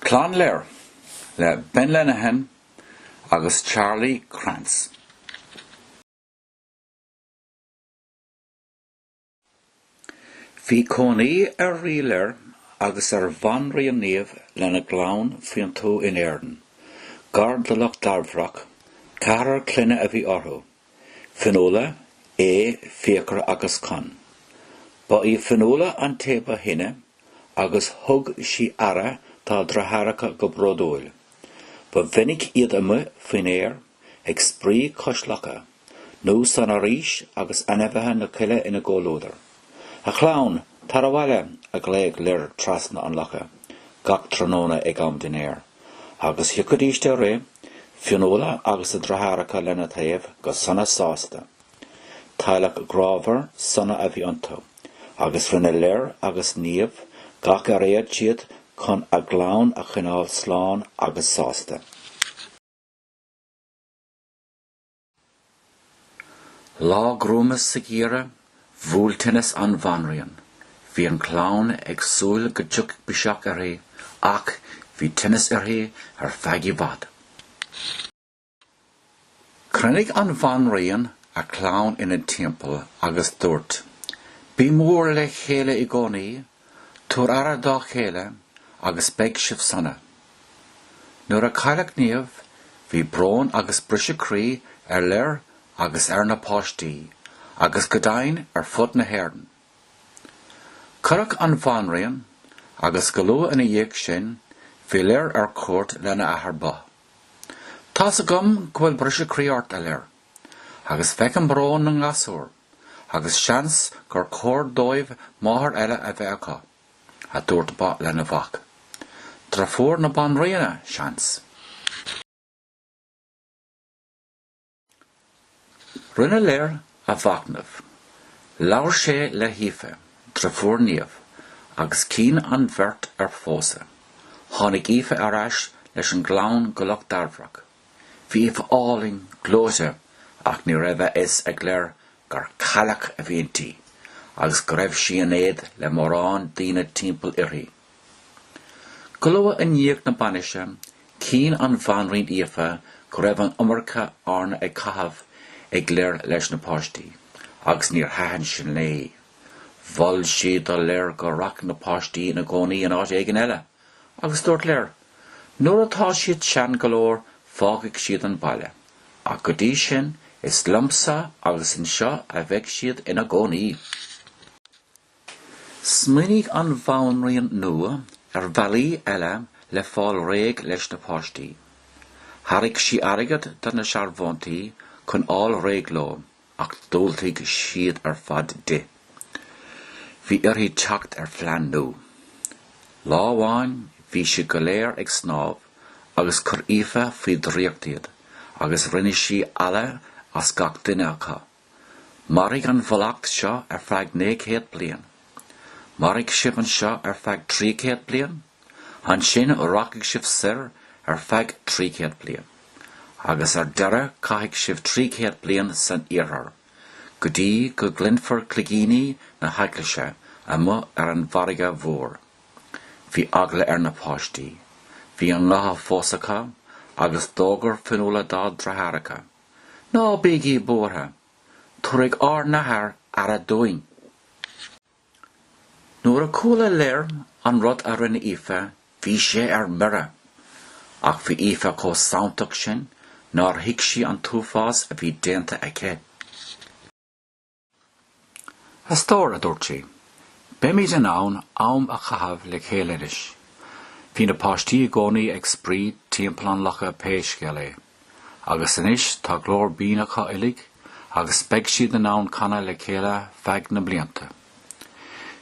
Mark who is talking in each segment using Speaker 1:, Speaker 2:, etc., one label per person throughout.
Speaker 1: Clann Lir, le Ben Lenihan agus Charlie Krantz. Bhí cónaí ar Rí Lir agus ar Bhanríon Niamh lena gclann faoin tuath in Éirinn, gar do Loch Dairbhreach, ceathrar clainne a bhí orthu. Fionnuala, Aodh, Fiachra agus Conn. Ba í Fionnuala an té ba shine agus thug sí aire dá deartháireacha go bródúil. Ba mhinic iad amuigh faoin aer ag spraoi cois locha nó san fhoraois agus ainmhithe na coille ina gcomhluadar. A chlann, tar abhaile! a ghlaoigh Lir trasna an locha gach tráthnóna ag am dinnéir. Agus thiocfaidís de rith, Fionnuala agus a deartháireacha lena taobh, go sona sásta. Teaghlach grámhar sona a bhí iontu, agus rinne Lir agus Niamh gach ar fhéad siad chun a gclann a choinneáil slán agus sásta. Lá gruama sa gheimhreadh, bhuail tinneas an bhanríon. Bhí an chlann ag súil go dtiocfadh biseach uirthi, ach bhí tinneas uirthi ar feadh i bhfad. Chruinnigh an bhanríon a clann ina timpeall agus dúirt, Bí mór le chéile i gcónaí, Tabhair aire dá chéile agus beidh sibh sona. Nuair a cailleadh Niamh, bhí brón agus briseadh croí ar Lir agus ar na páistí agus go deimhin ar fud na hÉireann. Cuireadh an bhanríon agus go luath ina dhiaidh sin bhí Lir ar cuairt lena athair, Bodhbh. Tá's agam go bhfuil briseadh croí ort, a Lir, agus feicim brón na ngasúr. agus seans gur chóir dóibh máthair eile a bheith acu, a dúirt Bodhbh lena mhac. Deirfiúr na banríona, seans. Rinne Lir a mhachnamh. Labhair sé le hAoife, deirfiúr Niamh, agus chinn an bheirt ar phósadh. Tháinig Aoife ar ais leis an gclann go Loch Dairbhreach. Bhí Aoife álainn gleoite ach ní raibh a fhios ag Lir gur cailleach a bhí inti agus go raibh sí in éad le mórán daoine timpeall uirthi. Go luath i ndiaidh na bainise, chinn an bhanríon Aoife go raibh an iomarca ama ag caitheamh ag Lir leis na páistí, agus níor thaitin sin léi. Mhol sí do Lir go rachadh na páistí ina gcónaí in áit éigin eile. agus dúirt Lir, Nuair atá siad sean go leor fágfaidh siad an baile, ach go dtí sin is liomsa agus anseo a bheidh siad ina gcónaí. Smaoinigh an bhanríon nua ar bhealaí eile le fáil réidh leis na páistí. Thairg sí airgead do na searbhóntaí chun fháil réidh leo, Ach dhiúltaigh siad ar fad di. Bhí uirthi teacht ar phlean nua. Lá amháin bhí siad go léir ag snámh agus chuir Aoife faoi dhraíocht iad agus rinne sí eala as gach duine acu. Mairfidh an mhallacht seo ar feadh naoi céad bliain. Mairfidh sibh anseo ar feadh trí chéad bliain? Ansin rachaidh sibh soir ar feadh trí chéad bliain, agus ar deireadh caithfidh sibh trí chéad bliain san iarthar, go dtí go gcluinfear cloigíní na heaglaise amuigh ar an bhfarraige mhór. Bhí eagla ar na páistí. Bhí a ngutha fós acu, agus d'fhógair Fionnuala dá dreatháracha, Ná bígí buartha! Tabharfaidh ár n-athair aire dúinn. Nuair a chuala Lir an rud a rinne Aoife, bhí sé ar mire. Ach bhí Aoife chomh santach sin nár thuig sí an t-uafás a bhí déanta aici. A stór, a dúirt sí, beimid in ann am a chaitheamh le chéile anois. Bhí na páistí i gcónaí ag spraoi timpeall an locha pé scéal é. agus anois tá glór binn acu uilig agus beidh siad in ann canadh le chéile feadh na mblianta.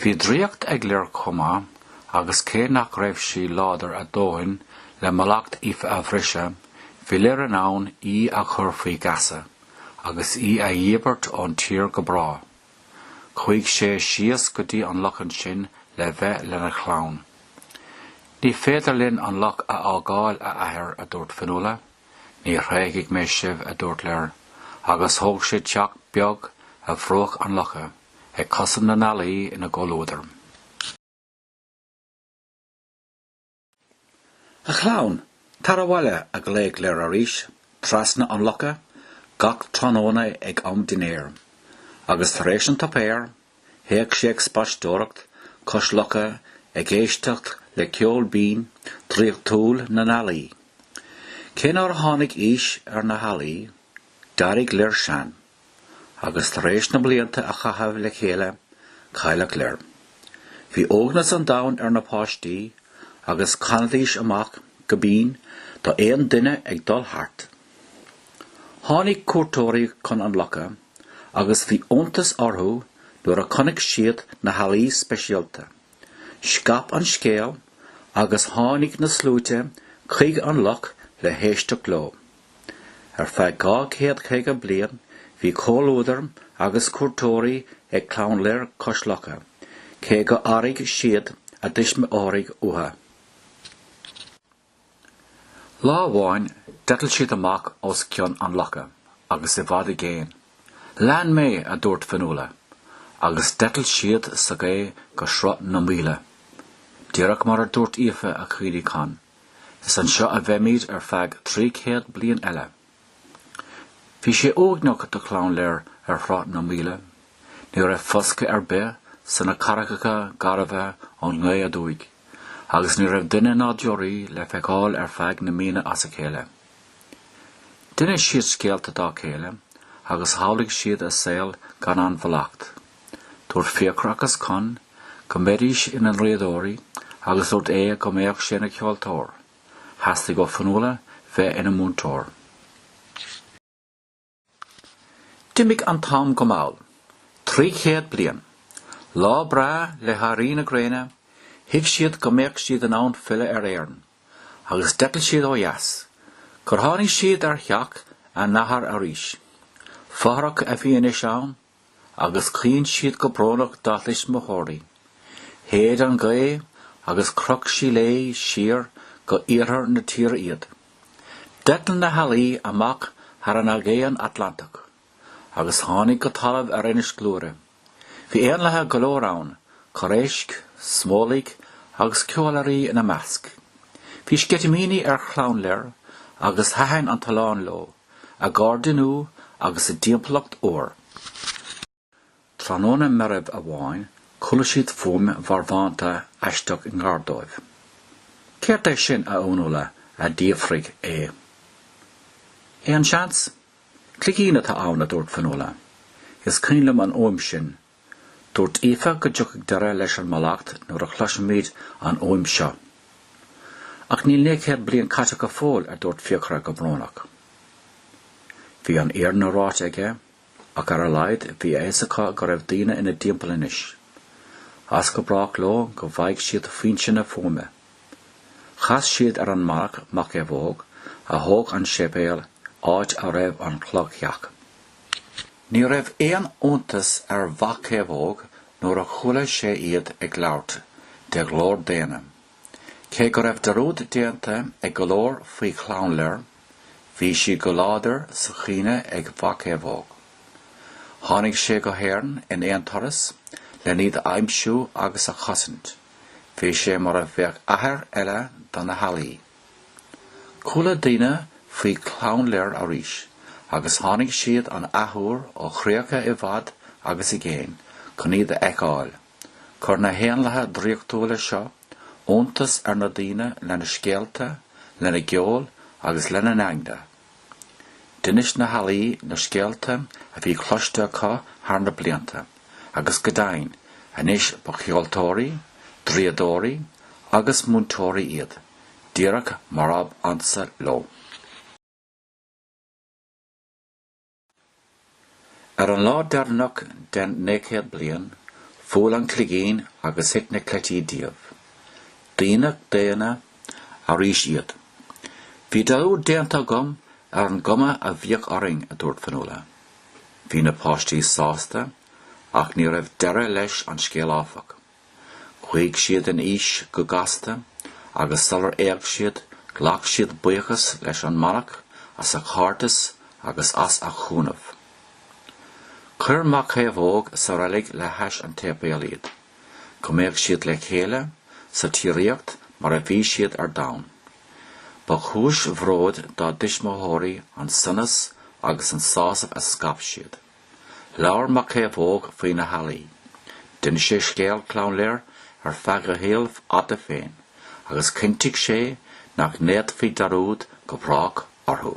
Speaker 1: Bhí draíocht ag Lir chomh maith, agus cé nach raibh sí láidir a dóthain le mallacht Aoife a bhriseadh, bhí Lir in ann í a chur faoi gheasa, agus í a dhíbirt ón tír go bráth. Chuaigh sé síos go dtí an loch ansin le bheith lena chlann. Ní féidir linn an loch a fhágáil, a athair, a dúirt Fionnuala. Ní thréigfidh mé sibh, a dúirt Lir, agus thóg sé teach beag ar bhruach an locha, ag cosaint na n-ealaí ina gcomhluadar. A chlann, tar abhaile, a ghlaoigh Lir arís trasna an locha gach tráthnóna ag am dinnéir. Agus tar éis an tsuipéir, théadh sé ag spaisteoireacht cois locha ag éisteacht le ceol binn draíochtúil na n-ealaí. Cé nár tháinig aois ar na healaí, d'éirigh Lir sean. agus tar éis na blianta a chaitheamh le chéile, cailleadh Lir. Bhí uaigneas an domhain ar na páistí, agus chanaidís amach go binn d'aon duine ag dul thart. Tháinig cuairteoirí chun an locha, agus bhí iontas orthu nuair a chonaic siad na healaí speisialta. Scaip an scéal, agus tháinig na sluaite chuig an loch le héisteacht leo. Ar feadh dhá chéad caoga bliain bhí comhluadar agus cuairteoirí ag Clann Lir cois locha, cé go n-airigh siad a dtuismitheoirí uathu. Lá amháin d'eitil siad amach os cionn an locha agus i bhfad i gcéin. Lean mé, a dúirt Fionnuala, agus d'eitil siad sa ghaoth go Sruth na Maoile, díreach mar a dúirt Aoife a chaoinigh Conn. Is anseo a bheimid ar feadh trí céad bliain eile. Bhí sé uaigneach do chlann Lir ar Shruth na Maoile. Ní raibh foscadh ar bith sna carraigeacha garbha ón ngaoth aduaidh, agus ní raibh duine ná deoraí le feiceáil ar feadh na míonna as a chéile. D'inis siad scéalta dá chéile agus shamhlaigh siad a saol gan an mhallacht. Dúirt Fiachra agus Conn go mbeidís ina ndraíodóirí agus dúirt Aodh go mbeadh sé ina cheoltóir. Theastaigh ó Fionnuala bheith ina múinteoir. D'imigh an t-am go mall, trí chéad bliain. Lá breá le héirí na gréine, thuig siad go mbeadh siad in ann filleadh ar Éirinn, agus d'eitil siad ó dheas, gur tháinig siad ar theach a n-athar arís. Fothrach a bhí anois ann, agus caoin siad go brónach dá dtuismitheoirí. Shéid an ghaoth agus chroch sí léi siar go iarthar na tíre iad. D'eitil na healaí amach thar an Aigéan Atlantach agus tháinig go talamh ar Inis Gluaire. Bhí éanlaithe go leor ann, corréisc, smólaigh agus ceolairí ina measc. Bhí sceitimíní ar Chlann Lir agus thaitin an t-oileán leo. a gcairde nua agus a dtimpeallacht úr. Tráthnóna meirbh amháin chuala siad fuaim mharbhánta aisteach i ngar dóibh. Céard é sin, a Fhionnuala? a d'fhiafraigh Aodh. Aon seans? Cloigín atá ann, a dúirt Fionnuala. Is cuimhin liom an fhuaim sin. Dúirt Aoife go dtiocfadh deireadh leis an mallacht nuair a chloisfimid an fhuaim seo. Ach níl naoi gcéad bliain caite go fóill, a dúirt Fiachra go brónach. Bhí an fhírinne ráite aige, ach ar a laghad bhí a fhios acu go raibh daoine ina dtimpeall anois. As go brách leo go bhfaighidh siad foinse na fuaime. Chas siad ar an manach Mochaomhóg, a thóg an séipéal, áit a raibh an cloigtheach. Ní raibh aon iontas ar Mhochaomhóg nuair a chuala sé iad ag labhairt de ghlór daonna. Cé go raibh dearúd déanta ag go leor faoi Chlann Lir, bhí sí go láidir sa chuimhne ag Mochaomhóg. Tháinig sé go hÉirinn in aon turas len iad a aimsiú agus a chosaint, bhí sé mar a bheadh athair eile do na healaí. Chuala daoine faoi Chlann Lir arís, agus tháinig siad an athuair ó chríocha i bhfad agus i gcéin chun iad a fheiceáil. Chuir na héanlaithe draíochtúla seo iontas ar na daoine lena scéalta, lena gceol agus lena n-eagna. D'inis na healaí na scéalta a bhí cloiste acu thar na blianta. agus go deimhin anois ba cheoltóirí, draíodóirí agus múinteoirí iad, díreach mar ab ansa leo. Ar an lá deireanach den naoi gcéad bliain, bhuail an cloigín agus thit na cleití díobh. Daoine daonna arís iad. Bhí dearúd déanta agam ar an gcuma a bhíodh orainn, a dúirt Fionnuala. Bhí na páistí sásta, ach ní raibh deireadh leis an scéal áfach. Chuaigh siad in aois go gasta, agus sular éag siad, ghlac siad buíochas leis an manach as a chairdeas agus as a chúnamh. Chuir Mochaomhóg sa reilig le hais an tséipéil iad, go mbeadh siad le chéile sa tsíoraíocht mar a bhí siad ar domhan. Ba chúis bhróid dá dtuismitheoirí an sonas agus an sásamh a scaip siad. Labhair Mochaomhóg faoi na healaí. D'inis sé scéal Chlann Lir ar feadh a shaoil fhada féin agus chinntigh sé nach ndéanfaí dearúd go brách orthu.